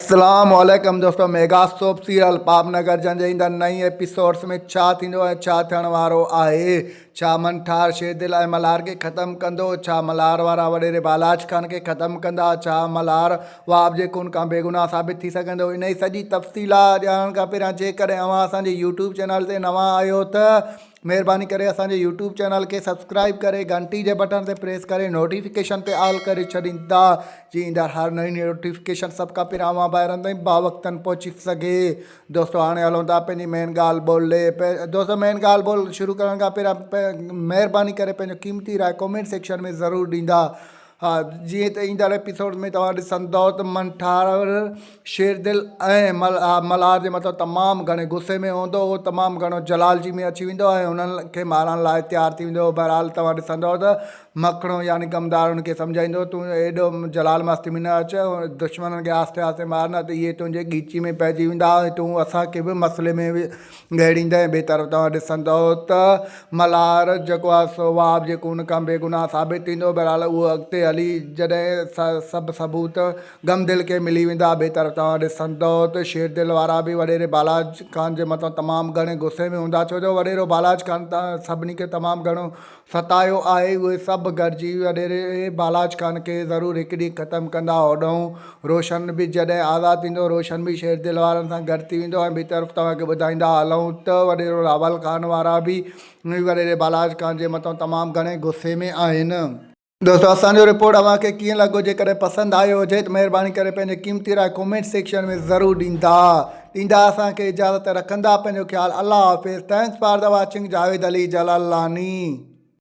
اسلام عليڪم دوستو ميگا سوپ سيريل پاپ نگر جن جي ايندڙ نئين ايپيسوڊس ۾ ڇا ٿيندو ۽ ڇا ٿيڻ وارو آهي ڇا من ٺار شير دل ۽ ملهار کي ختم ڪندو ڇا ملهار وارا وڏيري بالاچ خان کي ختم ڪندا ڇا ملهار وهاب جي خون کان بيگناهه ثابت ٿي سگهندو انهي سڄي تفصيلات ڄاڻڻ کان پهريان جيڪڏهن اوهان اسان جي يوٽيوب چينل تي نوان آهيو ته مھرباني ڪري اسان جي يوٽيوب چينل کي سبسڪرائب ڪري گھنٽي جي بٽڻ تي پريس ڪري نوٽيفڪيشن تي آل ڪري ڇڏيندا جي ايندڙ ھر نئين نوٽيفڪيشن سڀ کان پھريان اوھان ڀائرن تائين باوقتن پھچي سگھي دوستو ھاڻي ھلون ٿا پنھنجي مين ڳالھ ٻولھ ڏي دوستو مين ڳالھ ٻولھ شروع ڪرڻ کان پھريان مھرباني ڪري پنھنجو قيمتي راء ڪمينٽ سيڪشن ۾ ضرور ڏيندا ها جيئن ته ايندڙ ايپيسوڊ ۾ توهان ڏسندئو ته منٺار شيردل ۽ ملهار جي مٿان تمام گهڻي غصي ۾ هوندو هو تمام گهڻو جلال جي ۾ اچي ويندو ۽ انهن کي مارڻ لاء تيار ٿي ويندو هو بهرحال توهان ڏسندئو ته مکڻو يعني غمدار ان کي سمجهائيندو تون ايڏو جلال مستي ۾ نه اچ دشمنن کي آهستي آهستي مار نه ته اهي تنهنجي ڳيچي ۾ پئجي ويندا ۽ تون اسان کي به مسئلي ۾ گهڙيندي ۽ ٻئي طرف توهان ڏسندؤ ته ملهار جيڪو آهي سو وهاب جي خون کان بي گناهه ثابت ٿيندو. بهرحال اهو اڳتي هلي جڏهن سڀ ثبوت غم دل کي ملي ويندا. ٻئي طرف توهان ڏسندؤ ته شير دل وارا به وڏيري بالاچ خان جي مٿان تمام گهڻي غصي ۾ هوندا ڇو جو وڏيرو بالاچ خان سڀني کي تمام گهڻو ستايو آهي اهي سڀ گڏجي وڏيري بالاچ خان کي ضرور هڪ ڏينهن ختم ڪندا هوڏهون روشن به جڏهن آزاد ٿيندو روشن به شير دل وارن سان گڏ ٿي ويندو ۽ ٻي طرف توهان کي ٻڌائيندا هلون ته وڏيرو راول خان وارا به وڏيري بالاچ خان جي مٿان تمام گهڻي غصي ۾ آهن دوستو اسان جو رپورٽ اوهان کي ڪيئن لڳو جيڪڏهن پسند آيو هجي ته مهرباني ڪري پنهنجي قيمتي راء ڪومينٽ سيڪشن ۾ ضرور ڏيندا ڏيندا اسان کي اجازت رکندا پنهنجو خيال الله حافظ thanks for the watching Javed Ali Jalalani